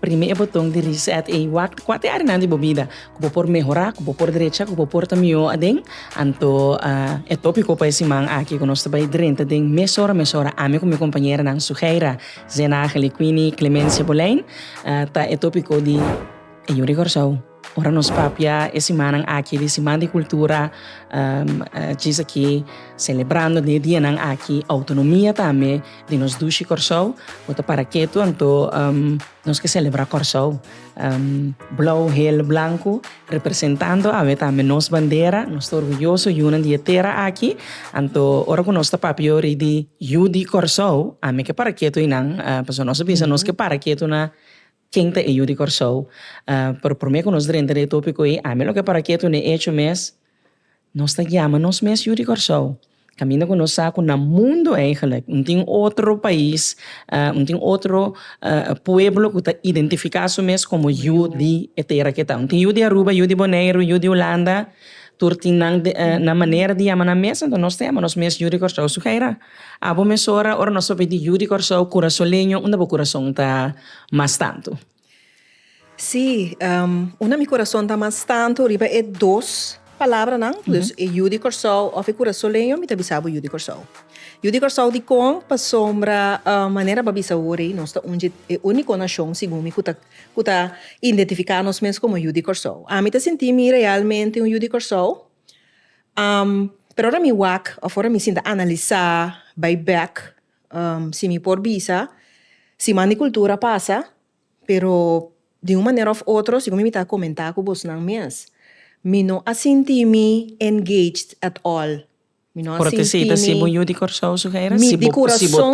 Primi e boton di Reset ei. Wak kua te áreanan di bo bida ku bo por mehorá, ku bo por drecha, ku bo por ta mihó aden? Anto e tópiko pa e siman aki ku nos ta bai drenta den Mesora Mesora ami ku mi kompañeranan Suheira Zenagel i Queenie Clemencia Boleyn ta e tópiko di E Yu di Kòrsou. Ora nos papia e simannan aki di Siman di Kultura, djis aki selebrando den e dianan aki outonomia tambe di nos dushi Kòrsou. Bo ta para ketu anto nos ke selebrá Kòrsou. Blou, hel, blanku representando awe tambe nos bandera. Nos ta orguyoso yunan di e tera aki. Anto ora ku nos ta papia yori di Yu di Kòrsou, ami ke para ketu einan pasobra nos a bisa nos ke para ketu na Ken ta e yu di Kòrsou? Pero promé ku nos drenta di e tópiko ei, ami loke para ketu na e echo mes, nos ta yama nos mes yu di Kòrsou. Kaminda ku nos sa ku na mundu eigelik no tin otro pais, no tin otro pueblo ku ta identifiká su mes komo yu di e tera ke ta. No tin yu di Aruba, yu di Boneiru, yu di Hulanda, tur tin nan na manera di yama nan mes, enton nos ta yama nos mes yu di Kòrsou. Sugeira. Abo mesora ora nos ta pidi yu di Kòrsou, kurasoleño, unda bo kurason ta mas tantu? Sí, unda mi kurason ta mas tantu riba e dos palabranan, dus e yu di Kòrsou òf e kurasoleño, mi ta bisa bo yu di Kòrsou. Yu di Kòrsou dikon? Pasobra manera bo a bisa awor ei, nos ta ungid e úniko nashon, segun mi, ku ta ku ta identifiká nos mes komo yu di Kòrsou. Ami ta sinti mi realmente un yu di Kòrsou. pero ora mi wak of ora mi sinta analisa bai bek si mi por bisa siman di cultura a pasa pero di un manera of otro segun mi ta comenta cu bosnan mes mi no a sinti mi engaged at all mi no a sinti mi mi di corazon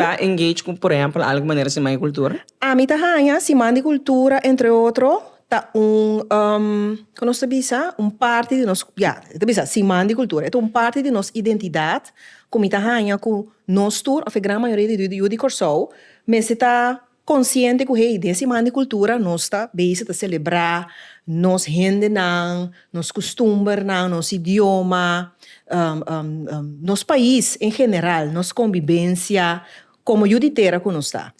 ami ta haña siman di cultura entre otro. ta un ku nos ta bisa un parti di nos ya e ta bisa siman di kultura e ta un parti di nos identidat ku mi ta haña ku nos tur òf e gran mayoria di yu di Kòrsou mester ta konsiente ku hey den siman di kultura nos ta besi ta selebrá nos hendenan nos kustumbernan nos idioma nos pais en general nos kombibensia komo yu di tera ku nos ta.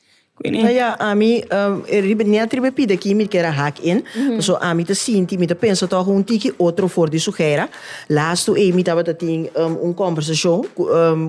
Bueno ya ami riba net riba e pida aki mi keda hack in pasobra ami ta sinti mi ta pensa toch un tiki otro for di su hera lastu ey mi tabata tin un conversacion cu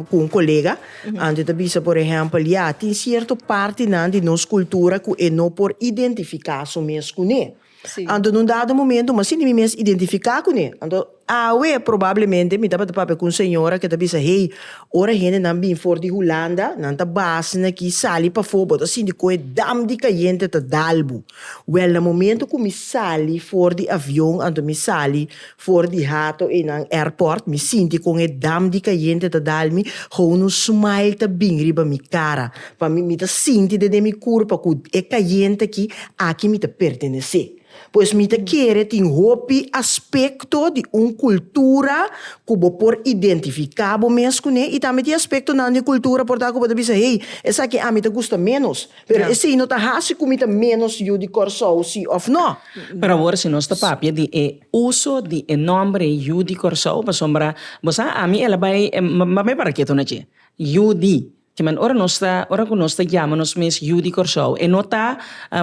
un colega anto e ta bisa por ehempel ya tin cierto partenan di nos cultura cu e no por identifica su mes cune. Anto nun dado momento maschi ni mi mes identifica cune. Anto awe probablemente mi tabata papia cu un señora que ta bisa hey ora hendenan bin for di Hulanda nan ta base na ki sali pafo bo ta sinti coe dam di cayente ta dalbo. Wel na momento cu mi sali for di avion anto mi sali For di hato einan airport mi sinti con e dam di cayente ta dal mi ho unu smile ta bin riba mi cara pa mi mi ta sinti dende mi curpa cu e cayente aki aki mi ta pertenece pues mi ta kere tin hopi aspecto di un cultura cu bo por identifica bo mes cune y tambe tin aspecto nan di cultura por ta cu bo ta bisa hey esaki ami ta gusta menos Pero esei no ta hasi ku mi ta ménos yu di Kòrsou, si òf nò. Pero awor si nos ta papia di e uso di e nòmber yu di Kòrsou, pasobra bo sa ami el a bai m'a bai para ke tuna dje? Yu di. Ki man ora nos ta ora ku nos ta yama nos mes yu di Kòrsou e no ta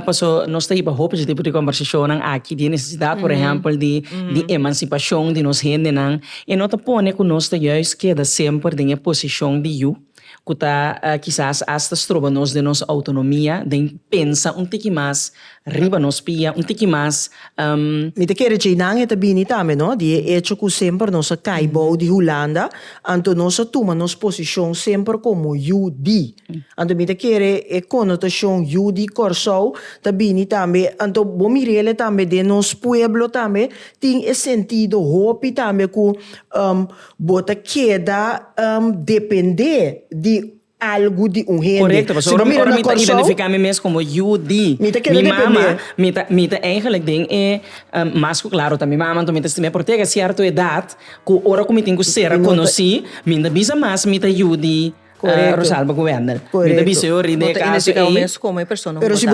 paso nos ta hiba hopi di tipo di kòmbersashonnan aki di e nesesidat por ehèmpel di di emansipashon di nos hendenan e no ta pone ku nos ta yùis keda semper den e posishon di yu. ku ta kisas asta stroba nos den nos outonomia, den pensa un tiki mas riba nos pia, un tiki mas. Mi ta kere djeinan e ta bini tambe no, di e echo ku semper nos a kai bou di Hulanda, anto nos a tuma nos posishon semper komo yu di. Anto mi ta kere e konotashon yu di Kòrsou ta bini tambe, anto bo mir'el tambe den nos pueblo tambe tin e sentido hopi tambe ku Bo ta keda dependé di algu di un hende. Korekto, pasobra ora mi, ora mi ta identifiká mi mes komo yu di mi mama, mi ta, mi ta eigenlijk den e, mas ku klaru ta mi mama, anto mi ta stim'é, pero te llega sierto edat ku ora ku mi tin ku sera konosí, mi no bisa mas mi ta yu di. Rosalba ku Wendel. Mi ta bisa yo riba e kaso ei. Pero si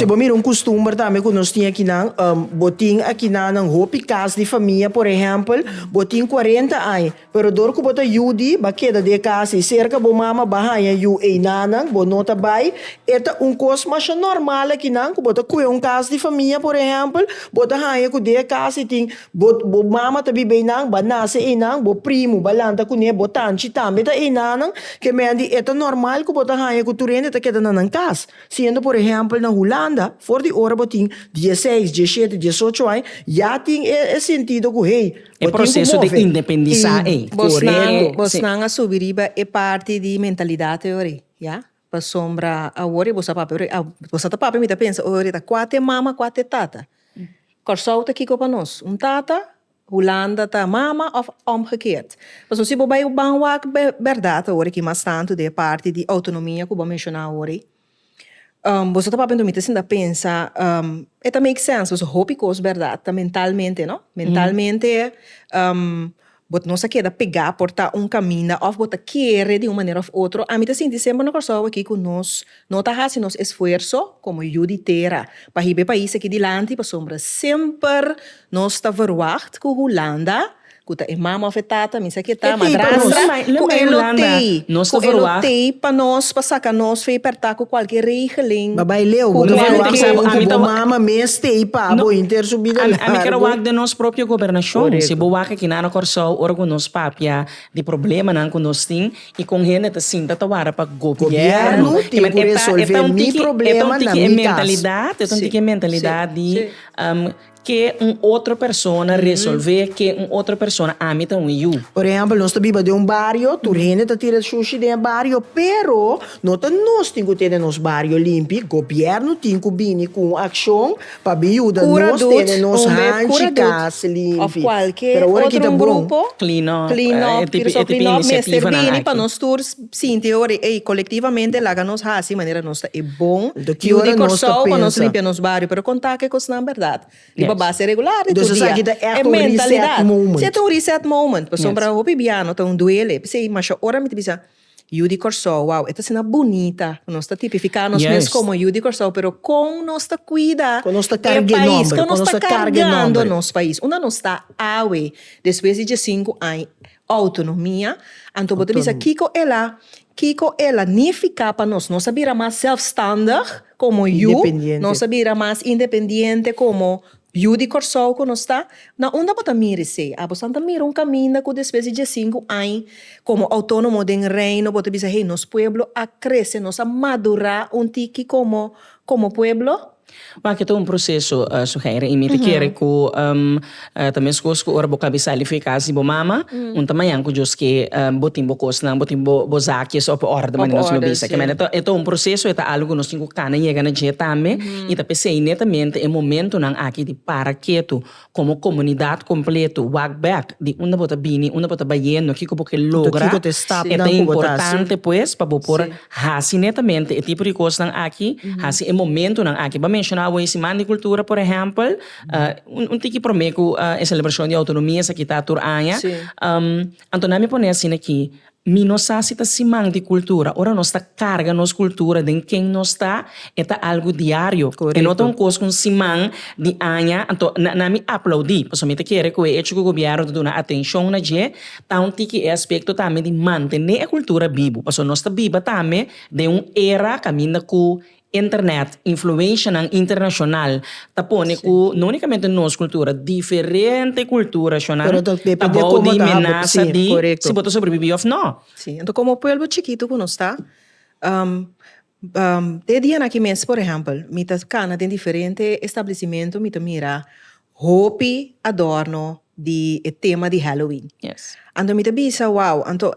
bo mira un kustumber tambe ku nos tin akinan, bo tin akinan nan hopi kas di famia por ehèmpel bo tin kuarenta aña pero dor ku bo ta yu di bo a keda den e kas ei serka bo mama bo a haña yu ei nanan bo no ta bai e ta un kos masha normal akinan ku bo ta kue un kas di famia por ehèmpel bo ta haña ku den e kas ei tin Bo mama ta biba einan, bo a nase einan, bo primu bo a lanta kuné, bo tanchi tambe ta einannan, ke mende e ta normal ku bo ta haña ku tur hende ta keda na nan kas. Siendo por ehèmpel na Hulanda, for di ora bo tin dieseis, dieshete, diesocho aña, ya tin e sentido ku hey, bo tin ku move. Bosnan a subi riba e parti di mentalidat hoyori, ya. Pasobra awor e bo sa papia ori a bo sa ta papia mi ta pensa ori ta kua te mama kua te tata Kòrsou ta kiko pa nos un tata Hulanda ta mama òf òmgekeerd pasobra si bo bai ban wak bèrdat awor aki mas tantu den e parti di outonomia ku bo a menshoná awor bo sa ta papia mi ta sinta pensa e ta make sense pasobra hopi kos bèrdat ta mentalmente no mentalmente Bo no sa keda pegá por ta un kaminda òf bo ta kere di un manera òf otro. Ami ta sinti semper na Kòrsou akí ku nos no ta hasi nos esfuerso komo yu di tera pa hib'é pais akí dilanti pasobra semper nos ta verwagt ku Hulanda, ku ta e mama òf e tata, mi sa ke ta, madrastra, ku e lo tei, ku e lo tei pa nos, pa saka nos fei pèrtá ku kualke regeling. Ba bai leu, bo ta verwagt segun ku bo mama mes tei pa bo hinter su bida làrgu. Aki na no Kòrsou ora ku nos papia di problemanan ku nos tin i kon hende ta sinta ta wara pa gobièrnu tin ku resolv'é mi problema na mi kas. E ta un tiki e mentalidat, e ta un tiki e mentalidat di ke un otro persona resolv'é, ke un otro persona ami ta hui yu. Por ehèmpel nos ta biba den un bario, tur hende ta tira shushi den e bario, pero no ta nos tin ku tene nos bario limpi, gobièrnu tin ku bini ku un akshon Pa bin yuda nos tene nos hanchi kas limpi. Pero ora ki ta bon. Clean up. E tipi inisiativanan aki. Pa nos tur sinti horai ey colectivamente laga nos haci manera nos ta e bon yu di Corsou pa nos limpia nos bario. Pero con ta ke cosnan berdad. Riba base regular di tur dia. Entonces aki ta echt un reset moment. Si e ta un reset moment. Pasobra hopi biano ta un duele. P'esey masha ora mi ta bisa. Yu di Kòrsou, wou, e ta asina bunita ku nos ta tipifiká nos mes komo Yu di Kòrsou, pero kon nos ta kuida e pais, kon nos ta karg'é nòmber, kon nos ta kargando nos pais. Unda nos ta awe despues di diesinku añ outonomia? Anto bo ta bisa kiko el a kiko el a nifiká pa nos? Nos a bira mas sèlfstandig komo Yu? Nos a bira mas independiente komo Yu di Kòrsou ku nos ta, na unda bo ta mira esei? A bosan ta mira un kaminda ku despues di diesinku añ komo outónomo den Reino bo ta bisa, Hey, nos pueblo a krese, nos a madurá un tiki komo komo pueblo? Bo aki ta un proseso, Suheira, i mi ta kere ku ta meskos ku ora bo kabe sali fi kas di bo mama, un ta mañan ku djos ke bo tin bo kosnan, bo tin bo bo zakies op orde, manera nos lo bisa. Kemey, e ta un proseso, e ta algu ku nos tin ku kana yega na dje tambe. I ta p'esei netamente e momentunan aki di para ketu komo komunidat kompletu, wak bèk di unda bo ta bini, unda bo ta bayendo, kiko bo ke logra. E ta importante pues pa bo por hasi netamente e tipo di kosnan aki, hasi e momentunan aki. Bo a menshona awor e Siman di Kultura, por ehèmpel, un tiki promé ku e selebrashon di outonomia esaki ta tur aña. Anto nan mi pone asina aki, Mi no sa si ta siman di cultura. Ora nos ta carga nos cultura den ken nos ta, e ta algo diario. E no ta un cos cu un siman di aña anto na na mi aplaudi. Pasobra mi ta kere cu e hecho cu gobierno ta duna atencion na dje ta un tiki e aspecto tambe di mantene e cultura bibu. Pasobra nos ta biba tambe den un era caminda cu Internet, influenshanan internashonal ta pone ku no únikamente nos kultura, diferente kulturashonan ta bou di menasa di si bo ta sobrebibí òf nò. Sí, anto komo pueblo chikitu ku nos ta, te dianan aki mes, por ehèmpel, mi ta kana den diferente establesimentu, mi ta mira Hopi adorno di e tema di Halloween. Anto mi ta bisa, wow, anto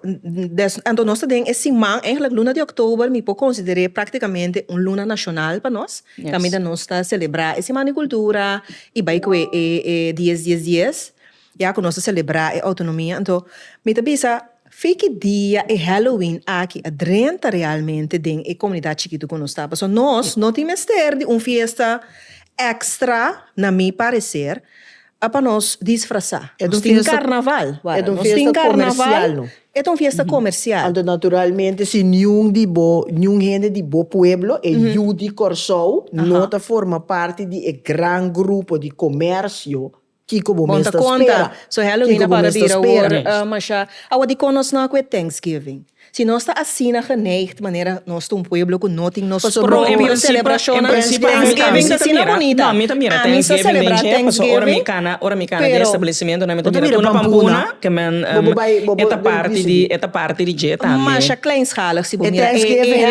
anto nos ta den e siman, eigenlijk luna di oktober mi por konsider'é praktikamente un luna nashonal pa nos, kaminda nos ta selebrá e Siman di Kultura i bai ku e e dies dies dies, ya ku nos ta selebrá e outonomia. Anto mi ta bisa, Fe ki dia e Halloween aki a drenta realmente den e komunidat chikitu ku nos ta. Paso nos no tin mester di un fiesta èkstra, na mi pareser, pa nos disfrasá. Nos tin karnaval. Nos tin karnaval. E ta un fiesta komersial. Anto naturalmente si niun di bo, niun hende di bo pueblo, e yu di Kòrsou, no ta forma parti di e gran grupo di komersio, Kiko bo mes ta spera? Kiko bo mes ta spera mes? Awa dikon nos no a ku e Thanksgiving? Si nos ta asina geneigd manera nos ta un pueblo ku no tin nos propio selebrashonnan, Thanksgiving ta asina bunita. Ami sa selebrá Thanksgiving pero bo ta mira pampuna, bo bai bo bo Thanksgiving. Masha kleinschalig si bo mira e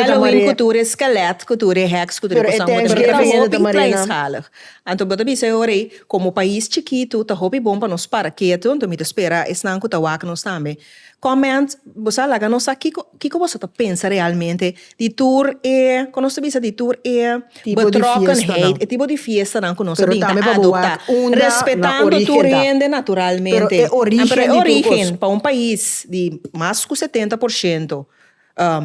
Halloween ku tur e skelet ku tur e heks ku tur e kosanan bo ta mira ta hopi kleinschalig. Anto bo ta bisa e ora ei, komo pais chikitu ta hopi bon pa nos para ketu, anto mi ta spera esnan ku ta wak nos tambe. Comment, Bo sa laga nos sa kiko kiko boso ta pensa realmente di tur e, kon nos ta bisa di tur e betrokkenheid, e tipo di fiestanan ku nos a bin ta adoptá, respetando tur hende naturalmente, pero e origen, pero e origen pa un pais di mas ku setenta por shento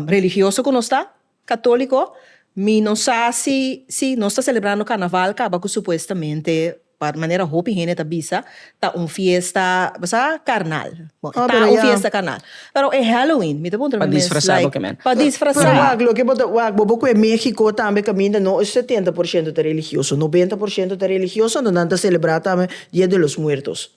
religioso ku nos ta, Católico, Mi no sa si si nos ta celebrando Carnaval caba cu supuestamente pa manera hopi hende ta bisa ta un fiesta sa carnal. Bo e ta un fiesta carnal. Pero e Halloween mi ta puntra mi mes like pa disfrasa. Pero wak loke bo ta wak bo bo cu e Mexico tambe caminda no e setenta por ciento ta religioso, noventa por ciento ta religioso anto nan ta celebra tambe Dia de los Muertos.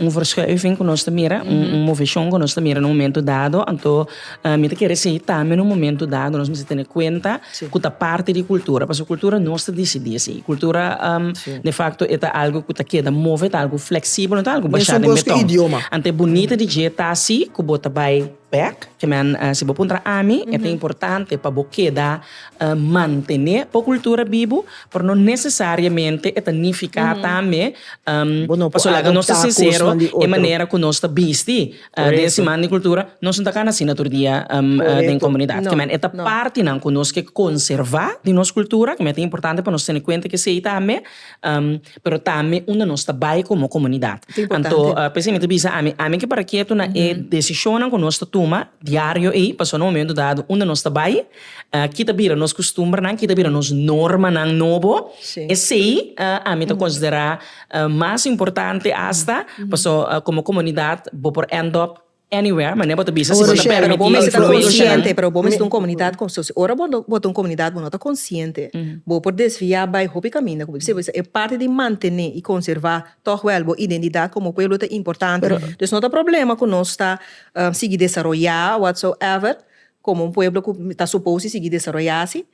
Un verschuiving ku nos ta mira, un moveshon ku nos ta mira na un momentu dado, anto mi ta kere si tambe na un momentu dado nos mester tene kuenta ku ta parti di kultura, pasobra kultura nos ta disidí esei, kultura de fakto e ta algu ku ta keda move, ta algu fleksibel, no ta algu bashá den beton, anto e bunita di dje ta asi ku bo ta bai. Back, ke men si bo puntra ami e ta importante pa bo keda mantené bo kultura bibu, pero no nesesariamente e ta nifiká tambe bo no por adoptá kosnan di otro. E manera ku nos ta bisti den e siman di kultura nos no ta kana asina tur dia den komunidat ke men e ta partinan ku nos ke konservá di nos kultura ke men e ta importante pa nos tene kuenta ku esei tambe. pero tambe unda nos ta bai komo komunidat. Anto p'esei mi ta bisa ami, ami ke para ketu na e desishonnan ku nos ta tuma diario ei, pasobra na un momentu dado unda nos ta bai, ki ta bira nos kustumbernan, ki ta bira nos normanan nobo, esei ami ta konsiderá mas importante asta, pasobra komo komunidat bo por end up anywhere mane bo ta bisa si bo ta permití information. Ora bo mester ta consciente pero bo mester ta un comunidad consciente ora bo ta un comunidad bo no ta consciente bo por desvia bay hopi caminda como bisa e parte di mantene y conserva tog wel bo identidad como pueblo ta importante pues no ta problema cu nos ta sigui desaroya whatsoever como un pueblo cu ta suppose di sigui desaroya asi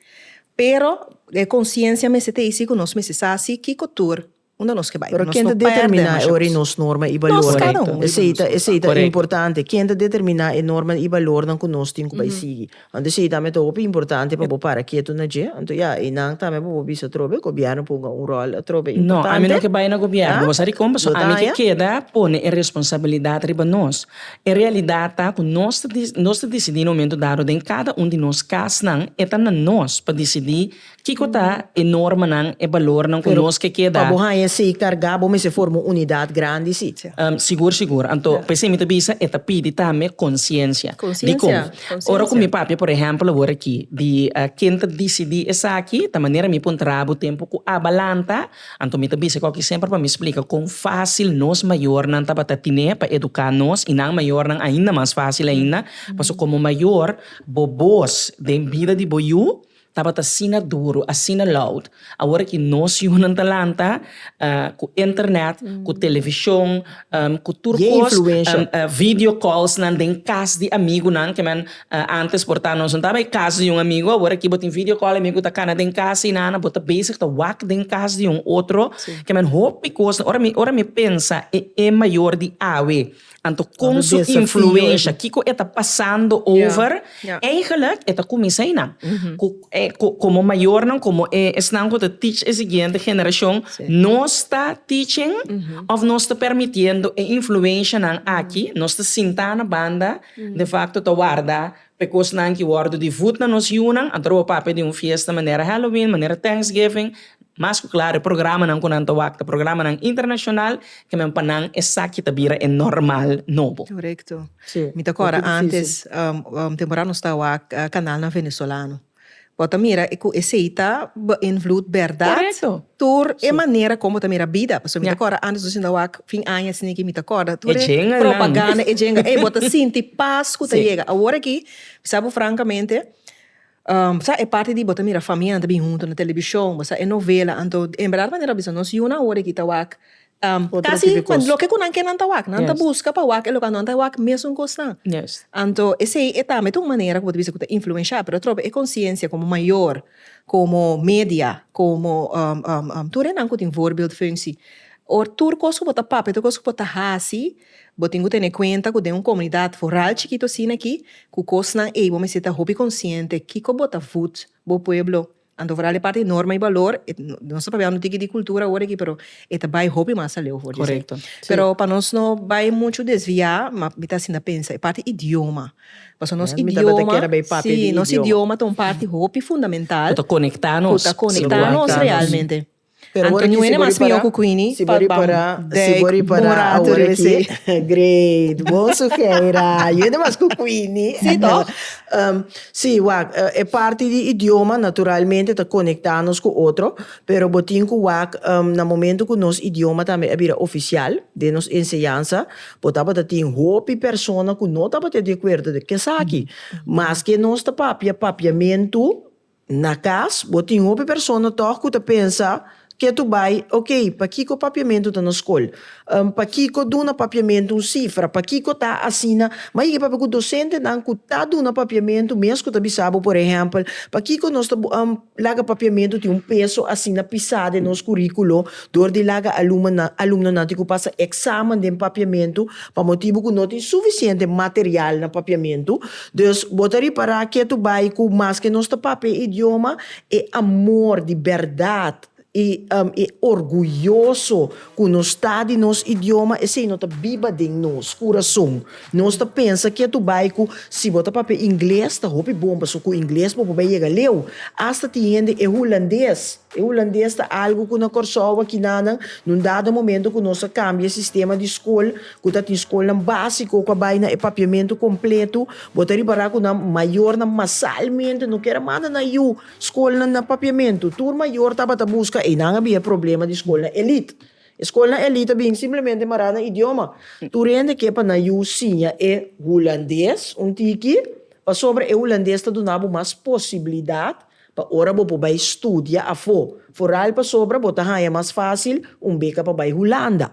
pero e consciencia mester ta ey si cu nos mester sa si kico tur. Unda nos ke bai? Pero ken ta determiná e ora i nos norma i balornan? Esei ta esei ta importante. Ken ta determiná e norma i balornan ku nos tin ku bai sigui? Anto esei tambe ta hopi importante pa bo para ketu na dje. Anto ya, einan tambe pa bo bisa atrobe, gobièrnu ponga un ròl atrobe importante. No, ami no ke bai na gobièrnu. Bo sa di kon? Pasobra ami ke keda pone e responsabilidat riba nos. E realidat ta ku nos ta nos ta disidí na un momentu dado den kada un di nos kasnan. E ta na nos pa disidí Kiko ta e normanan, e balornan ku nos ke keda? Pero pa bo haña esei kargá, bo mester forma un unidat grandi, si? Sigur, sigur. Anto, pa esei mi ta bisa e ta pidi tambe konsiensia. Dikon? Ora ku mi papia, por ehèmpel, awor aki, di ken ta disidí esaki, ta manera mi pon trabu tempu ku a balanta, anto mi ta bisa ku aki semper pa mi splika kon fásil nos mayornan tabata tine pa eduká nos i nan mayornan ainda mas fásil ainda. Pasobra komo mayor, bo bos den bida di bo yu Tabata asina duru, asina loud. Awor aki nos yunan ta lanta cu internet, cu television, cu tur cos, video calls nan den cas di amigunan, ke men antes por ta nos no taba e cas di un amigo, awor aki bo tin video call e amigo ta cana den cas y nana, bo ta bezig ta wak den cas di un otro, ke men hopi cos, ora mi, ora mi pensa e e mayor di awe. Anto con su influencia, kico e ta pasando over, eigenlijk e ta cuminsa einan. Cu e, cu, como mayornan, como e, esnan cu ta teach e siguiente generacion, nos ta teaching of nos ta permitiendo e influencianan aki, nos ta sinta na banda, defacto ta warda P'e kosnan ki wòrdu di vùt na nos yunan, a droba papia di un fiesta manera Halloween, manera Thanksgiving, mas ku klar e programanan ku nan ta wak ta programanan internashonal, ke men pa nan esaki ta bira e normal nobo. Korekto. Mi ta kòrda antes, temporada nos ta wak kanal na venezolano. Bo ta mira cu esey ta beinvloed berdad? Correcto. Tur e manera con bo ta mira bida. Pasobra mi ta acorda antes nos yendo wak fin aña asina aki mi ta acorda tur e propaganda, e djenganan. Ey, bo ta sinti paz cu ta yega. Awor aki, mi sa bo francamente, bo sa e parti di bo ta mira familianan ta bin hunto na television, bo sa e novela, anto en berdad manera bo bisa nos yunan awor aki ta wak Casi loke cu nan ke nan ta wak, nan ta busca pa wak e loke nan ta wak mesun cos nan. Anto esey e tambe ta un manera cu bo ta bisa cu ta influensha, pero atrobe e conciencia como mayor, como media, como tur e nan cu tin voorbeeldfunctie, or tur cos cu bo ta papia, tur cos cu bo ta haci, bo tin cu tene cuenta cu den un comunidad foral chikito asina aki, cu cosnan ey bo mester ta hopi consciente kico bo ta voet bo pueblo, Anto for al e parti di norma i balor e nos ta papia un tiki di kultura awor aki pero e ta bai hopi mas aleu for di esei. Korekto, si. Pero pa nos no bai muchu desviá ma mi ta asina pensa e parti idioma pasobra nos idioma si. Mi ta beta kere bai papia di idioma. Si nos idioma ta un parti hopi fundamental. Ku ta konekta nos. Ku ta konekta nos realmente. Anto Nwene mas mihó ku Queenie pa ban dèk bora tu rebes'é. Great, bon sugeira. Nwene mas ku Queenie. Sí tòg? Sí, wak, e parti di idioma naturalmente ta konektá nos ku otro, pero bo tin ku wak na momentu ku nos idioma tambe a bira ofisial den nos enseñansa, bo tabata tin hopi persona ku no tabata di akuerdo dje esaki. Maske nos ta papia papiamentu Na cas bo tin hopi persona tog cu ta pensa ke tu bay, ok, pakico papiamentu ta na scol? Am, pakico duna papiamentu un cifra? Pakico ta asina? Ma yigi papia cu docentenan cu ta duna papiamentu mes cu ta bisa bo, por ehempel, pakico nos ta bo, am, laga papiamentu tin un peso asina pisa den nos curiculo dor di laga alumanan, alumnonan tin cu pasa examen den papiamentu pa motibu cu no tin suficiente material na papiamentu? Dus, bo ta ripará ke tu bai ku maske nos ta papia e idioma, e amor di bèrdat i e orguyoso ku nos ta di nos idioma, esei no ta biba den nos kurason. Nos ta pensa ke tu bai ku si bo ta papia ingles ta hopi bon pasobra ku ingles bo por bai yega leu. Asta tin hende e hulandes, e hulandes ta algu ku na Kòrsou aki nan nan, na un dado momento ku nos a kambia sistema di skol ku ta tin skolnan básiko ku a bai na e papiamentu kompletu, bo ta ripará ku nan mayornan masalmente no kier a manda nan yu skolnan na papiamentu. Tur mayor tabata buska einan a bin e problema di skolnan elite. E skolnan elite a bin simplemente mará na idioma. Tur hende ke pa nan yu siña e hulandes un tiki, pasobra e hulandes ta duna bo mas posibilidat pa ora bo por bai studia afó. Foral pasobra bo ta haña mas fásil un beka pa bai Hulanda.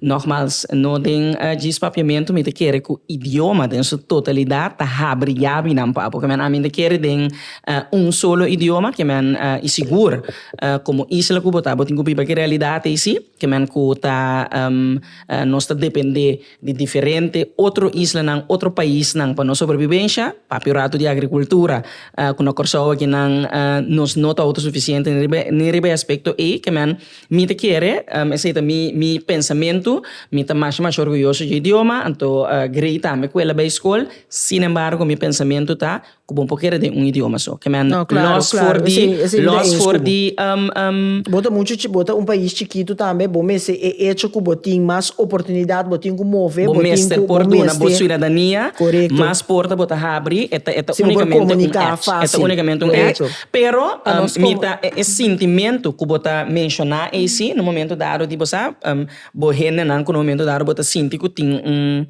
Nogmals, no den djis papiamentu mi ta kere cu idioma den su totalidad ta habri yabi nan pa porque men a mi ta kere den un solo idioma ke men y sigur como isla cu bo ta bo tin cu biba ki realidad eysi ke men cu ta nos ta depende di diferente otro islanan otro paisnan pa nos sobrevivencia papio ratu di agricultura cu na Corsou aki nan nos no ta autosuficiente ni riba ni riba e aspecto ey ke men Mi ta kere, esei ta mi mi pensamentu, mi ta masha masha orguyoso dje idioma, anto grei tambe ku ela bai skol, sin embargo mi pensamentu ta ku bo no por kere den un idioma so, ke men lòs for di lòs for di Bo ta muchu chi bo ta un pais chikitu tambe, bo mester e echo ku bo tin mas oportunidat, bo tin ku move, bo tin ku bo mester. Bo mester por duna bo suidadania mas porta, bo ta habri, e ta e ta unikamente un èch, e ta unikamente un èch. Pero pa nos como. Mira e sintimentu cu bo ta menciona eysi, na momento dado di bo sa bo hendenan cu na momento dado bo ta sinti cu tin un,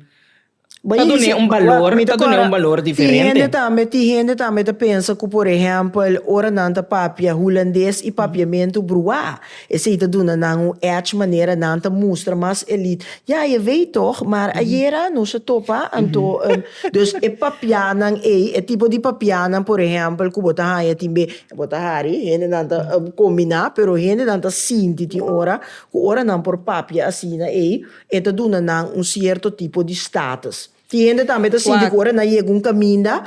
ta dun'e un balor, ta dun'e un balor diferente. Tin hende tambe ta pensa cu por ehempel ora nan ta papia hulandes y papiamentu brua. Esei ta duna nan un edge manera nan ta mustra mas elit. Ya, e wei tog, maar ayera nos a topa, anto e. Dus e papianan ei, e tipo di papianan por ehèmpel ku bo ta haña tin be, bo ta hari, hendenan ta kombiná, pero hendenan ta sinti tin ora ku ora nan por papia asina ei, e ta duna nan un sierto tipo di status. Tin hende tambe ta sinti ku ora nan yega un kaminda,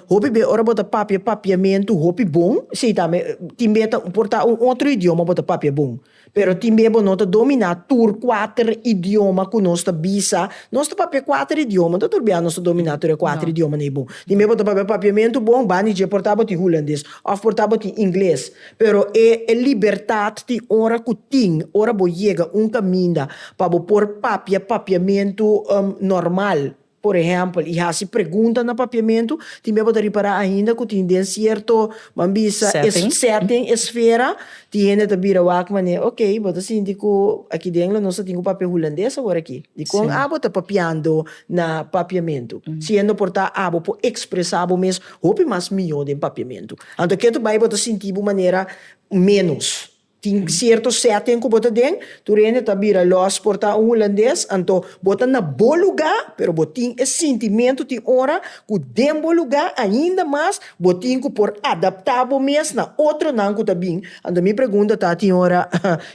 hopi bes ora bo ta papia papiamentu hopi bon, si ta me, tin bes ta, por ta un otro idioma bo ta papia bon, pero tin bes bo no ta dominá tur kuater idioma ku nos ta bisa, nos ta papia kuater idioma, no tur bia nos ta dominá tur e kuater idiomanan ei bon. Tin bes bo ta papia papiamentu bon, bani dje por ta bo tin hulandes òf por ta bo tin ingles. Pero e libertat tin ora ku tin, ora bo yega un kaminda pa bo por papia papiamentu normal, por ehèmpel, i hasi pregunta na papiamentu, tin mia bo ta ripará ainda ku tin den sierto, ban bisa, sètting, esfera, tin hende ta bira wak manera, okey, bo ta sinti ku aki den lo nos ta tin ku papia hulandes awor aki? Dikon abo ta papiando na papiamentu? Si e no por ta, abo por ekspresá bo mes. hopi mas mihó den papiamentu. Anto ke ta bai bo ta sinti bo manera ménos. Tin sierto sètting ku bo ta den, tur hende ta bira lòs por ta un hulandes, anto bo ta na bo lugá, pero bo tin e sintimentu tin ora ku den bo lugá ainda mas bo tin ku por adaptá bo mes na otronan ku ta bin. Anto mi pregunta ta tin ora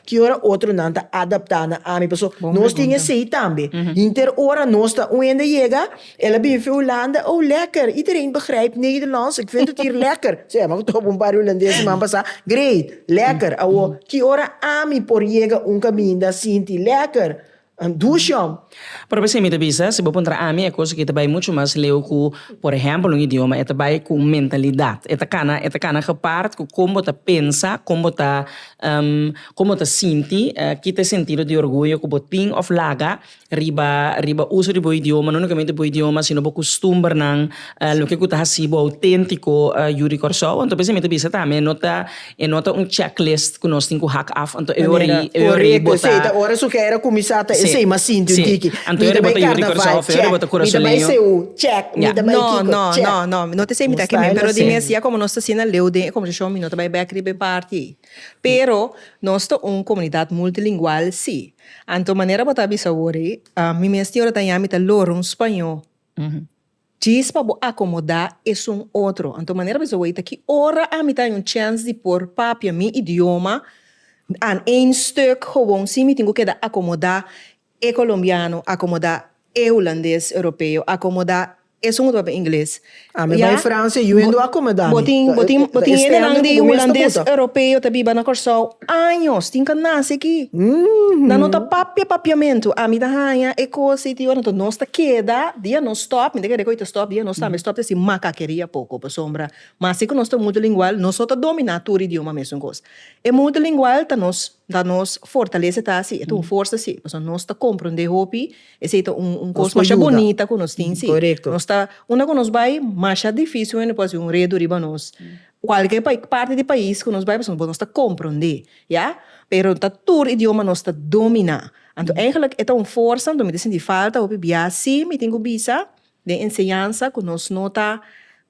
ki ora otronan ta adaptá na ami? Pasobra nos tin esei tambe. Hinter ora nos ta un hende yega. El a bin fi Hulanda, oh lekker, iedereen begrijpt Nederlands, ik vind het hier lekker, se a topa un par di hulandes siman pasá, great, lekker, awo, ki ora ami por yega un kaminda sinti lekker? Dushom. Pero p'esei mi ta bisa, si bo puntra ami, e kos aki ta bai muchu mas leu ku, por ehèmpel, un idioma. E ta bai ku un mentalidat. E ta kana, e ta kana gepaard ku kon bo ta pensa, kon bo ta, kon bo ta sinti, ki ta e sentido di orguyo ku bo tin òf laga, riba riba uso di bo idioma, no únikamente bo idioma, sino bo kustumbernan, loke ku ta hasi bo outéntiko yu di Kòrsou. Anto p'esei mi ta bisa tambe e no ta e no ta un checklist ku nos tin ku hak af. Anto e ora ei e ora ei bo ta Korekto, esei ta ora su kei a ta kuminsá ta esei mi a sinti un tiki. Anto e ora ei bo ta yu di Kòrsou af, e ora ei bo ta kura su leño. Mi ta bai Seú, check, mi ta bai Seú, check, mi ta bai No, kiko, no, check. no, no, mi no ta esei mi ta Nos kem'é, pero di style mesiá komo nos ta hasié na Leu den e konversashon mi no ta bai bèk riba e parti ei. Pero nos ta un komunidat multilingual, sí. Anto manera bo ta bisa awor ei, mi mes tin ora ta yami ta lora un spañó djis pa bo akomodá esun otro. Anto manera bisa awor ei ta ki ora ami ta haña un chèns di por papia mi idioma aan één stuk, gewoon si mi tin ku keda akomodá e kolombiano, akomodá E hulandes europeo akomoda esun bo ta papia ingles. A mi bay Francia yu hende wou a akomoda mi. Bo tin bo tin bo tin hende nan di hulandes europeo ta biba na Kòrsou años tin ka nase aki. Nan no ta papia papiamentu. A mi ta haña e kos ei tin ora enton nos ta keda dia nos stòp mi ta kere ku ei ta stòp dia nos tambe stòp ta si makakeria poko pasobra mas si ku nos ta multilingual nos no ta dominá tur idioma mesun kos. E multilingual ta nos. Ta nos fortalece ta si, e ta un forsa si, pasobra nos ta comprende hopi, esey ta un un cos masha bonita cu nos tin si, nos ta unda cu nos bay masha dificil hende por haci un redo riba nos, cualkier parti di pais cu nos bay pasobra nos ta comprende ya, pero no ta tur idioma nos ta domina, anto eigenlijk e ta un forsa anto mi ta sinti falta hopi bia si mi tin cu bisa den enseñansa cu nos no ta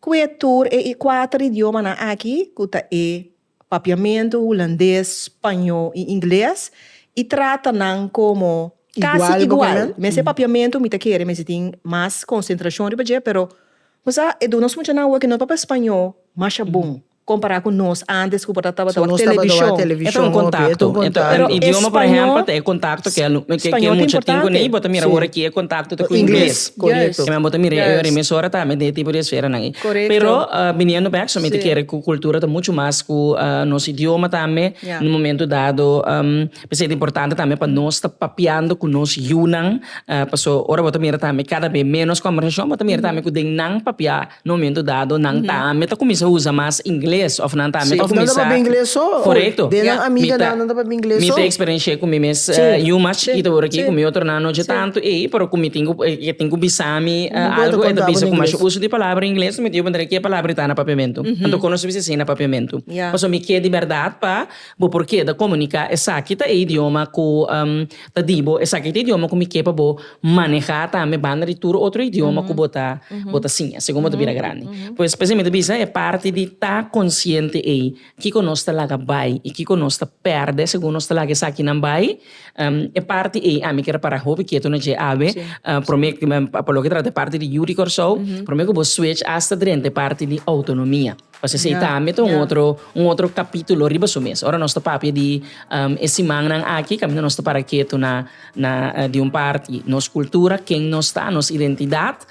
cue tur e cuater idiomanan aki cu ta e. Papiamentu Hulandes, Spañó i Ingles i trata nan komo kasi igual. Mes e papiamentu mi ta kere mester tin mas konsentrashon riba dje, pero bo sa e duna nos muchanan awo ku no papia Spañó masha bon kompará ku nos antes ku por ta tabata wak televishon. E ta un kontakto. Un idioma por ehèmpel ta e kontakto ke e mucha tin ku nei bo ta mira awor aki e kontakto ta ku ingles. Korekto. Bo ta mira e emesorata me den e tipo di esfera nan ei. Pero biniendo bek so mi ta kere cu cultura ta mucho mas cu nos idioma tambe un momento dado p'esei ta importante tambe pa nos ta papiando cu nos yunan paso ora bo ta mira tambe cada bes menos conversacion bo ta mira tambe cu den nan papia un momento dado nan tambe ta cuminsa usa mas ingles of nan tambe ta cuminsa. Nan ta papia ingles so corecto den nan amiga nan nan ta papia ingles so mi ta experiencia cu mi mes yu mas chikito por aki cu mi otronan no dje tanto ey pero cu mi tin cu bisa. Ami algo e ta bisa ku masha uso di palabra ingles mi ta yuda puntra ke palabra ta na papiamentu. Anto kono su bisa asina papiamentu. Pasobra mi ke di bèrdat pa bo por keda komunika esaki ta e idioma ku ta di bo, esaki ta e idioma ku mi ke pa bo manehá tambe banda di tur otro idioma ku bo ta bo ta siña segun bo ta bira grandi. Pues p'esei mi ta bisa e parti di ta konsiente ei. Kiko nos ta laga bai i kiko nos ta pèrdè segun nos ta laga esakinan bai? E parti ei ami ke repara hopi ketu na dje awe. Promé, pa loke trata e parti di yu di Kòrsou, promé ku bo switch hasta drenta e parti di outonomia. Pasobra esei tambe ta un otro, un otro kapítulo riba su mes. Ora nos ta papia di e simannan aki kaminda nos ta para ketu na na di un parti nos kultura, ken nos ta, nos identidat.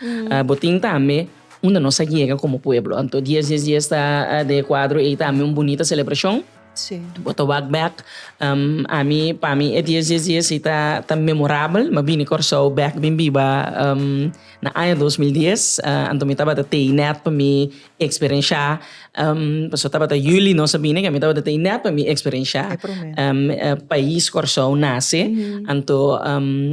Bo tin tambe. Unda nos a yega como pueblo. Anto dies dies dies ta den e cuadro ey tambe un bunita celebracion. Bo ta wak bek. Ami pa mi e dies dies dies ey ta memorabel. Mi a bini Corsou bek bin biba na aña dos mil dies. Anto mi tabata tey net pa mi experencia pasobra tabata juli nos a bini ke mi tabata tey net pa mi experencia pais Corsou nace. Anto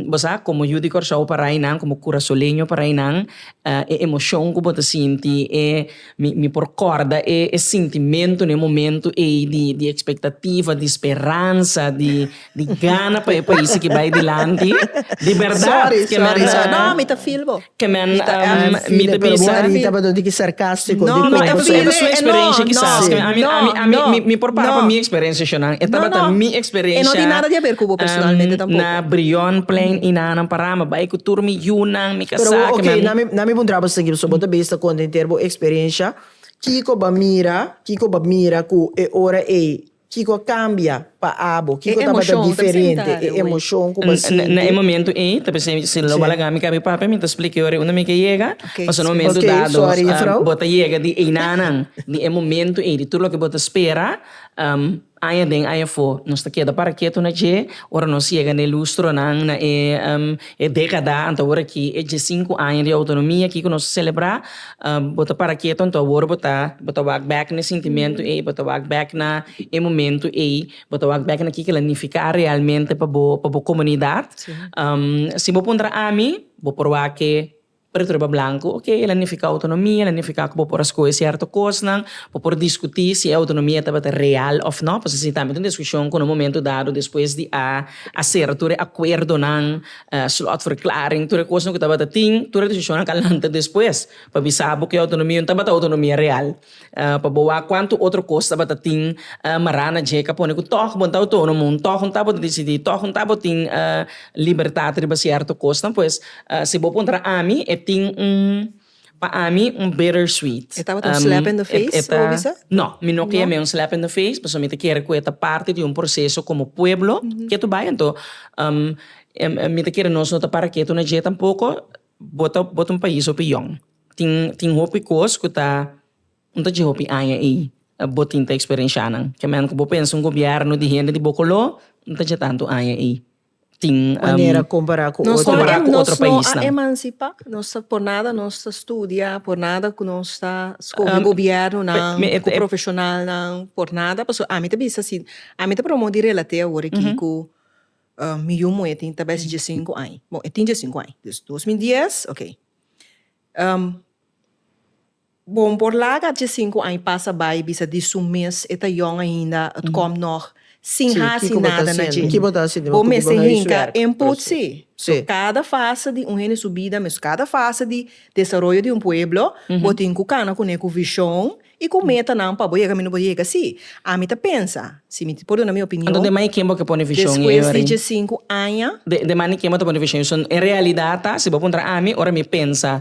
bo sa como yu di Corsou para eynan como curasoleño para eynan E emocion cu bo ta sinti e mi mi por corda e e sintimentu n'e momentu ey di di expectativa, di speransa, di di gana pa e país aki bay dilanti. Di berdad. Sorry, ke men. sorry, sorry. No, mi ta feel bo. Ke men Mi ta ehm, ehm, mi ta pero bo bisa. arita pa don tiki sarcastico No, di mi ta como. feel Su e, e experiencia no, quizás. no, Ke men, a mi, a mi, a mi, no, mi, mi por para no. pa mi experiencia sho nan. E No, tabata no. mi E no experiencia. tin nada di haber cu bo personalmente ehm, tampoco. na Brion plein y nan, nan para mi bay cu tur mi yunan. Pero bo ok, na mi na mi puntra bo siguiendo so bo ta bisa con enter bo experiencia kico bo a mira kico bo a mira cu e ora ey kico a cambia pa abo kico tabata diferente e emocion cu bo a sinti. Na e momento ey ta pensé si lo bo a laga mi kaba e papia mi ta explica e ora ey unda mi ke yega pasobra na momento dado bo ta yega di einanan di e momento ey di tur loke bo ta spera. Aña den aña afó, nos ta keda para ketu na dje, ora nos yega na e lustronan, na e dékada anto awor aki, e diesinku aña di outonomia aki ku nos ta selebrá, bo ta para ketu anto awor bo ta bo ta wak bèk na e sintimentu ei, bo ta wak bèk na e momentu ei, bo ta wak bèk na kiko la nifiká realmente pa bo pa bo komunidat. Si bo puntra ami, bo por wak e Pero tur e blanco, ok, el a nifica autonomia, el a nifica cu bo por a scoge cierto cosnan, bo por discuti si e autonomia tabata real of no, pasobra si ta habi un discusion cu na un momento dado despues di a hacer tur e acuerdonan, slotverklaring, tur e cosnan cu tabata tin, tur e discusionnan a lanta despues pa bisa bo cu e autonomia no tabata autonomia real. Pa bo wak cuantu otro cos tabata tin mará na dje, ka pone cu tog bo ta autónomo, tog no ta bo ta dicidí, tog no ta bo tin libertad riba cierto cosnan, pues si bo puntra ami e tin un, pa ami un bitter sweet. E tabata un slap in the face, bo a bisa? No, mi no kee mi un slap in the face, pasobra mi ta kere cu e ta parti di un proceso como pueblo ke ta bai. Anto mi ta kere nos no ta para ketu na dje tampoco, bo ta bo ta un pais hopi yòn. Tin tin hopi kos ku ta no ta dje hopi aña ei bo tin ta eksperensianan ke men ku bo pensa un gobièrnu di hende di bo koló no ta dje tantu aña ei tin manera kompará ku otro paisnan. Nos ta por nada nos ta studia por nada ku nos ta skohe gobièrnunan ku profeshonalnan por nada pasobra ami ta bisa si ami ta promo di relate awor aki ku mi yu muhé tin tabes dje sinku aña bon e tin dje sinku aña dos mil dies okay. Bon, por laga dje sinku aña pasa bai i bisa di su mes e ta yòn ainda, et kòm nòg sin hasi nada na dje. Bo mester hinka en putsi. So kada fase di un hende su bida, mesun kada fase di desaroyo di un pueblo, bo tin ku kana kuné ku vishon I ku metanan pa bo yega mi no por yega si? Ami ta pensa, si mi por duna mi opinion, Anto den mane ken bo ke pone vision i despues di dje sinku aña. Den den mane ken bo ta pone vision i so en realidad ta si bo puntra ami ora mi pensa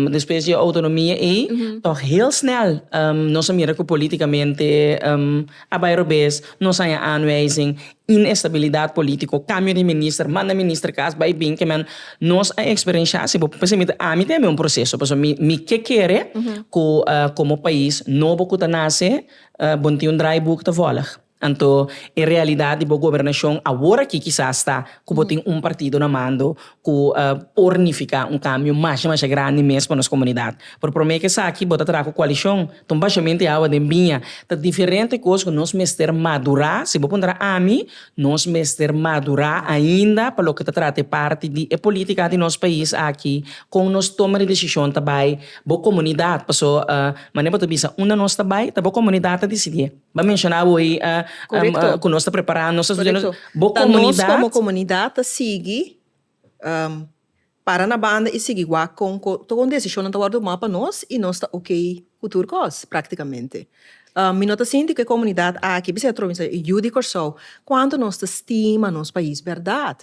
despues di e autonomia ei tog heel snel nos a mira ku politikamente a bai robes nos a haña aanwijzing inestabilidad politico, cambio di minister, manda minister cas bay bin ke men nos a experiencia si bo por percibir ta ami tambe un proceso pasobra mi mi ke kere cu como pais nobo cu ta nace bo no tin un draaiboek ta volg anto e realidad di bo gobernacion aworakikisas ta cu bo tin un partido na mando cu por nifica un cambio masha masha grandi mes pa nos comunidad. Por prome ca esaki bo ta traha cu coalicion, ta un bashamente di awa den biña, ta diferente cos cu nos mester madura, si bo puntra ami, nos mester madura ainda pa loke ta traha ta e parti di e politica di nos pais aki, con nos toma di decision ta bay bo comunidad, pasobra mane bo ta bisa, unda nos ta bay ta bo comunidad ta dicidié. Bo a menshona bo ei ku nos ta prepará nos ta studiá bo komunidat. Ta nos komo komunidat ta sigui para na banda i sigui wak kon tok un desishonnan ta wòrdu tumá pa nos i nos ta okey ku tur kos práktikamente. Mi no ta sinti ku e komunidat aki bisai atrò bisai e yu di Kòrsou kuantu nos ta stima nos pais bèrdat.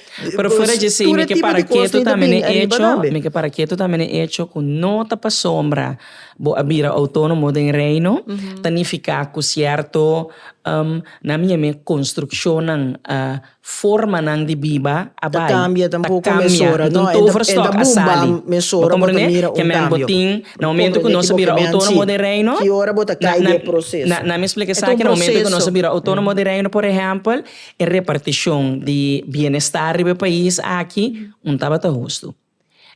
Pero fuera dje esei mi ke para ketu tambe n'e echo, mi ke para ketu tambe n'e echo ku no ta pa sombra bo a bira outonomo den Reino ta nifiká ku sierto nan mi yam'e konstrukshonnan a formanan di biba a bai, ta kambia nton overstock a sali. Bo komprende? Ke men bo tin na momento ku nos a bira outonomo den Reino, nan mi splika esaki, na momento ku nos a bira outonomo den Reino por ehèmpel. E repartishon di bienestar riba e pais aki un tabata hustu.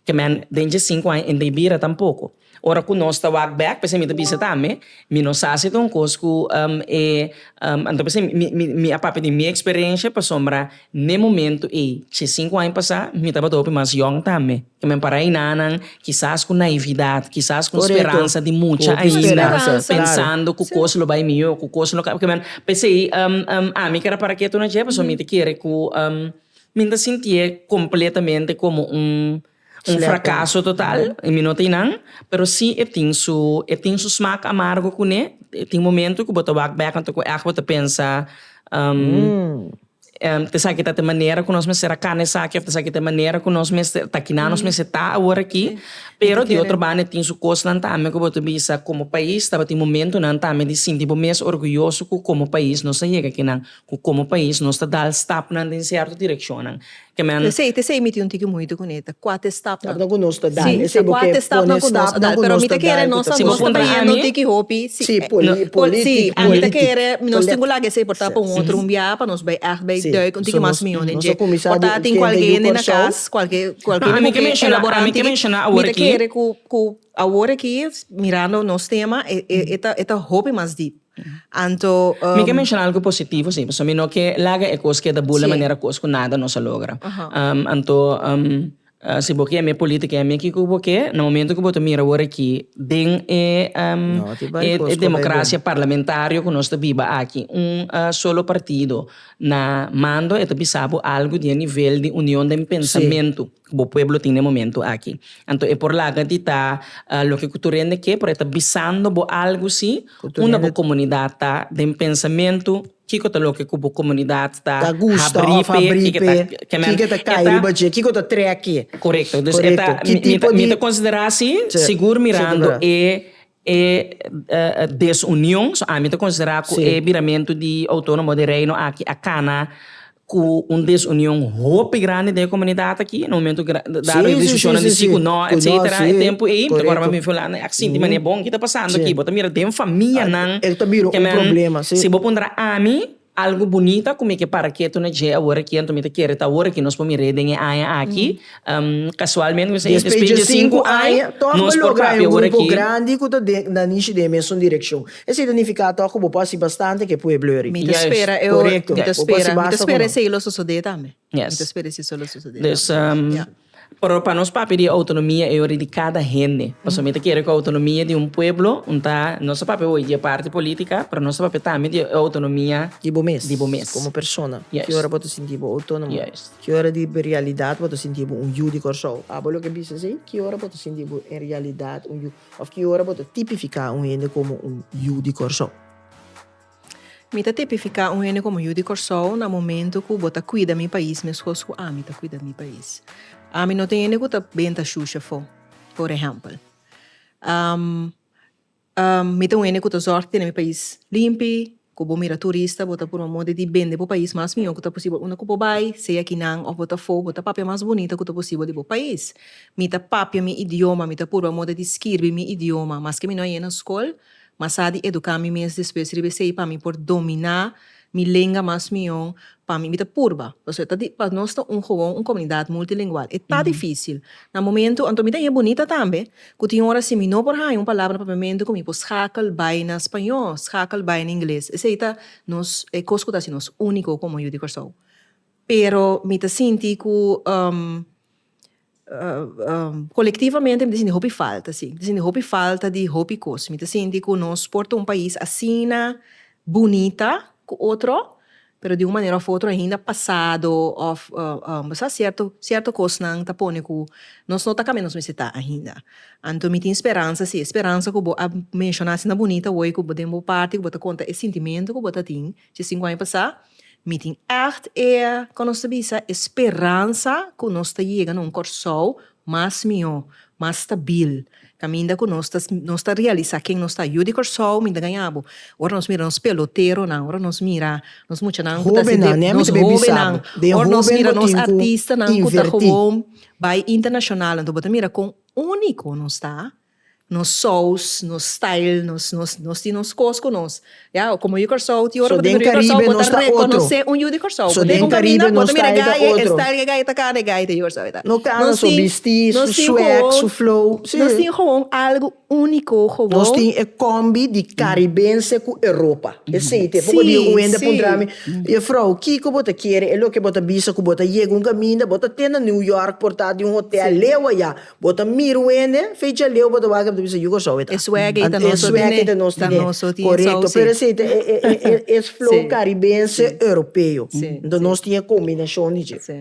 Ke men den dje sinku aña en ta e bira tampoko. Ora ku nos ta wak bek p'esei mi ta bisa tambe mi no sa si ta un kos ku e anto p'esei mi mi mi a papia di mi eksperensha pasobra n'e momento ei dje sinku aña pasá mi tabata hopi mas yòn tambe. E men pa reinanan, kisas ku naividat, kisas ku speransa di mucha ainda, pensando ku kos lo bai mihó, ku kos lo ka. P'esei, ami keda para ketu na dje, pasobra mi ta kere ku mi no ta sintié kompletamente komo un frakaso total, i mi no ta einan, pero sí e tin su, e tin su smak amargo kuné. E tin momentu ku bo ta wak bèk anto ku èg bo ta pensa. Ta esaki ta e manera ku nos mester a kana esaki òf ta esaki ta e manera ku nos mester ta kinan nos mester ta awor aki, pero di otro banda tin su kosnan tambe ku bo ta bisa komo pais tabatin momentunan tambe di sinti bo mes orguyoso ku komo pais nos ta yega kinan, ku komo pais nos ta dal stapnan den sierto direkshonnan. ke men. Te sei, te sei mi tin un tiki muitu kuné, ta kuat estapnan. Stapnan ku nos ta dal. Sí, ta kuat estapnan ku nos ta dal, pero mi ta kere nos ta nos ta bayendo tiki hopi, sí, e, no, poli, sí, ami ta kere nos tin ku laga esei por ta pa un otro un biaha pa nos bai ègt bai dùik un tiki mas mihó den dje. Por ta tin kualke hende na kas, kualke, kualke hende ku ke elaborá un tiki, mi ta kere ku, ku awor aki, mirando nos tema, e, e, e ta, e ta hopi mas dip. Anto, Mi ke menshona algu positivo si, pasobra mi no ke laga e kos ke ta bula manera kos ku nada nos a logra. Anto, si bo ke mi político i a mi kiko ku bo ke, na momento ku bo ta mira wor aki den e e democracia parlamentario ku nos ta biba aki, un solo partido na mando e ta bisa bo algu di e nivel di union den pensamentu. bo pueblo tin den momento aki. Anto e por laga di ta loke ku tur hende ke, pero e ta bisando bo algu si unda bo komunidat ta den pensamentu kiko ta loke ku bo komunidat ta habrí p'e i ke ta kemen. Kiko ta kai riba dje, kiko ta trèk e. Korekto. Korekto. Ki tipo di. Mi ta konsiderá si sigur mirando e. E desunion, so ami ta considera cu e biramentu di Autonomo di Reino aki a cana cu un desunion hopi grandi den e comunidad aki, na momento dado decisionan di si cu no etcetera, e tempo ey mi ta worde mi fue lana, ac sinti manera bon, ki ta pasando aki? Bo ta mira den famianan, si bo puntra ami. Algu bunita ku mi ke para ketu na dje awor aki anto mi ta kere ta awor ki nos por mir'é den e aña aki. Kasualmente mi ta siña despues dje sinku aña nos por papia awor aki. Despues dje sinku aña tòg bo logra un grupo grandi ku ta den na nishi den e mesun direkshon. Esei ta nifiká tòg ku bo por hasi bastante ku e pueblo yoris. Mi ta spera e ora, mi ta spera, mi ta spera esei lo sosodé tambe. Mi ta spera esei lo sosodé tambe. Pero pa nos papia di autonomia e ora di cada hende. Pasobra mi ta kere cu autonomia di un pueblo un ta nos ta papia hoy di e parti politica pero nos ta papia tambe di e autonomia di bo mes, di bo mes. como persona. Yes. Ki ora bo ta sinti bo autonomo? Yes. Ki ora di realidad bo ta sinti bo un yu di Kòrsou? Abo loke a bisa esei, ki ora bo ta sinti bo en realidad un yu of ki ora bo ta tipifica un hende como un yu di Kòrsou? Mi ta tipifiká un hende komo yu di Kòrsou na momentu ku bo ta kuida mi pais meskos ku ami ta kuida mi pais. Ami no ta hende ku ta ben ta shusha afó, por ehèmpel. Mi ta un hende ku ta zòrg tene mi pais limpi, ku bo mira turista bo ta purba modi di bende bo pais mas mihó ku ta posibel unda ku bo bai, sea ki nan òf bo ta afó, bo ta papia mas bunita ku ta posibel di bo pais. Mi ta papia mi idioma, mi ta purba modi di skirbi mi idioma, maske mi no a yega na skol, Ma sa di eduká mi mes despues riba esei pa mi por dominá mi lenga mas mion, pa mi mi ta purba. Pasobra e ta di, pa nos ta un gowon un komunidat multilingual e ta difísil. Na momentu, anto mi ta e bunita tambe ku tin ora si mi no por haña un palabra na papiamentu ku mi por skakel bai na spañó, skakel bai na ingles. Esei ta nos e kos ku ta hasi nos úniko komo Yu di Kòrsou. Pero mi ta sinti ku Kolektivamente mi ta sinti hopi falta si, mi ta sinti hopi falta di hopi kos, mi ta sinti ku nos por ta un pais asina bunita ku otro pero di un manera òf otro ainda pasado òf sa sierto sierto kosnan ta pone ku nos no ta kamba nos mester ta ainda anto mi tin speransa si e speransa ku bo a menshona asina bunita woi ku bo den bo parti ku bo ta konta e sintimentu ku bo ta tin Dje sinku aña pasá, mi tin ègt e, kon nos ta bisa, e speransa ku nos ta yega na un Kòrsou mas mihó, mas stabil, kaminda ku nos ta nos ta realisá ken nos ta. Yu di Kòrsou mi ta gaña bo, ora nos mira nos peloteronan, ora nos mira nos muchanan ku ta sende, nos hóbennan, ora nos mira nos artistanan ku ta gowon bai internashonal. Anto bo ta mira kon úniko nos ta. Nos saus, nos style, nos nos nos tin nos cos cu nos. Ya, como yu di Curaçao, tin ora cu ta mira yu di Curaçao bo ta reconoce un yu di Curaçao. Cu tin cu caminda bo ta mira gaye, e style di e gaye ta cara di e gaye ta yu di Curaçao, ta. Nos tin, nos tin hoon, nos tin hoon, nos tin hoon algo unico hoon. Nos tin e combi di Caribense cu Europa. Esey ta e poco dia cu Wendy a puntra mi, Juffrouw, kico bo ta kere? E loke bo ta bisa cu bo ta yega un caminda, bo ta tenda New York porta di un hotel leu aya. Bo ta mira un hende fecha leu bo ta wak bo ta bisa yu Kòrsou e ta. E swèk ei ta nos tine. E swèk ei ta nos tine. Ta nos tine e sòusi. Korekto. Pero esei ta e flow karibense europeo. Si. Anto nos tin e kombinashon di dje. Si.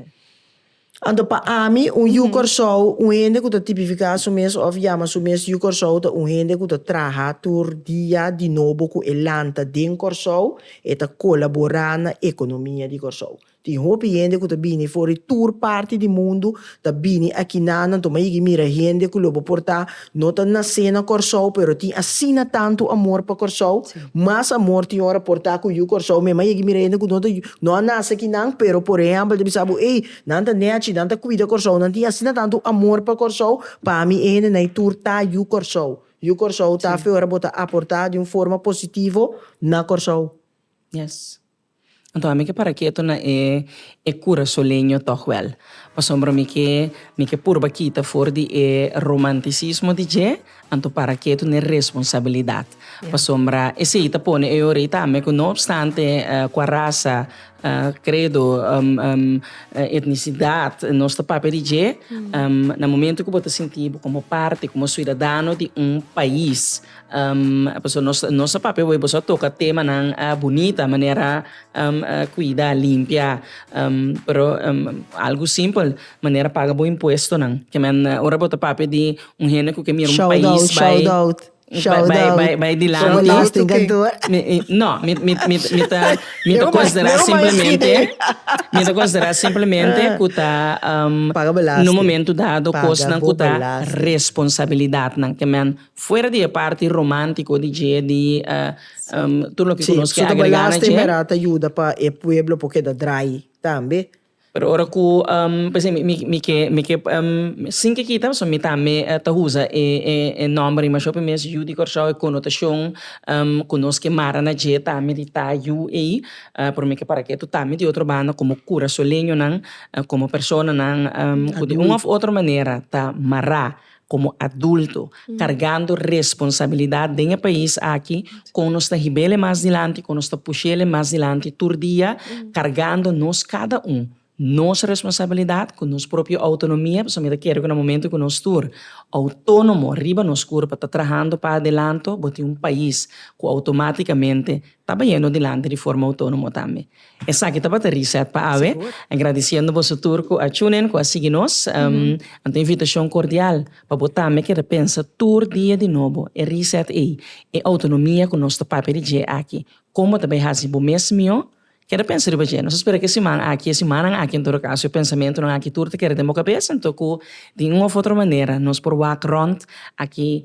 Anto pa ami un yu Kòrsou, un hende ku ta tipifiká su mes òf yama su mes yu Kòrsou ta un hende ku ta traha tur dia di nobo ku e lanta den Kòrsou, e ta kolaborá na ekonomia di Kòrsou. Tin hopi hende ku ta bini for di tur parti di mundu ta bini akinan. Nan tuma yigi mira hende ku lo bo por ta no ta nasé na Kòrsou pero tin asina tantu amor pa Kòrsou. Mas amor tin ora por ta ku yu Kòrsou. Mi a maya yigi mira hende ku no ta no a nase akinan pero por ehèmpel ta bisa bo ey nan ta nèchi, nan ta kuida Kòrsou, nan tin asina tantu amor pa Kòrsou. Pa mi e hendenai tur ta yu Kòrsou. Yu Kòrsou ta afe ora bo ta aportá di un forma positivo na Kòrsou. Anto ami ke para keto na e e kura soleño tog wel pasobra mi ke mi ke purba kita for di e romantisismo di dje anto para keto na e responsabilidat pasobra esei ta pone e orei tambe ku no opstante ku a rasa kredo etnisidat nos ta papia di dje na momento ku bo ta sinti bo komo parte komo suidadano di un pais. Pasobra nos nos a papia hoy boso a toca temanan bunita manera cuida, limpia, pero algo simpel manera paga bo impuestonan kimen ora bo ta papia di un hende cu ke mira un pais bai bai bai dilanti no mi mi mi mi ta mi ta considera simplemente mi ta considera simplemente cu ta na un momento dado cosnan cu ta responsabilidadnan kimen. Fuera di e parti romántiko di dje, di tur loke ku nos ke agregá na dje. Merá ta yuda pa e pueblo por keda drai tambe. Pero ora ku p'esei mi mi mi ke mi ke sin ke kita pasobra mi tambe ta usa e e e nòmber riba shò pi mes yu di Kòrsou e konotashon ku nos ke mara na dje tambe di ta yu ei pero mi ke para ketu tambe di otro banda komo kurasoleñonan komo personanan ku di un òf otro manera ta mará Komo adulto, kargando responsabilidat den e pais aki, kon nos ta hib'el'e mas dilanti, kon nos ta push'el'e mas dilanti tur dia, kargando nos kada un nos responsabilidat ku nos propio outonomia, pasobra mi ta kere ku na momentu ku nos tur outónomo riba nos kurpa ta trahando pa adelanto, bo tin un pais ku outomátikamente ta bayendo dilanti di forma outónomo tambe. Esaki tabata reset pa awe. Agradiciendo boso tur cu a tune in cu a sigui nos. Anto e invitacion cordial pa bo tambe keda pensa tur dia di nobo e reset ey, e autonomia cu nos ta papia di dje aki. Con bo ta bay haci bo mes mihó? Keda pensa riba dje. Nos ta spera cu e siman aki, e simannan aki en todo caso, e pensamentonan aki tur ta keda den bo cabes anto cu di un of otro manera nos por wak rond aki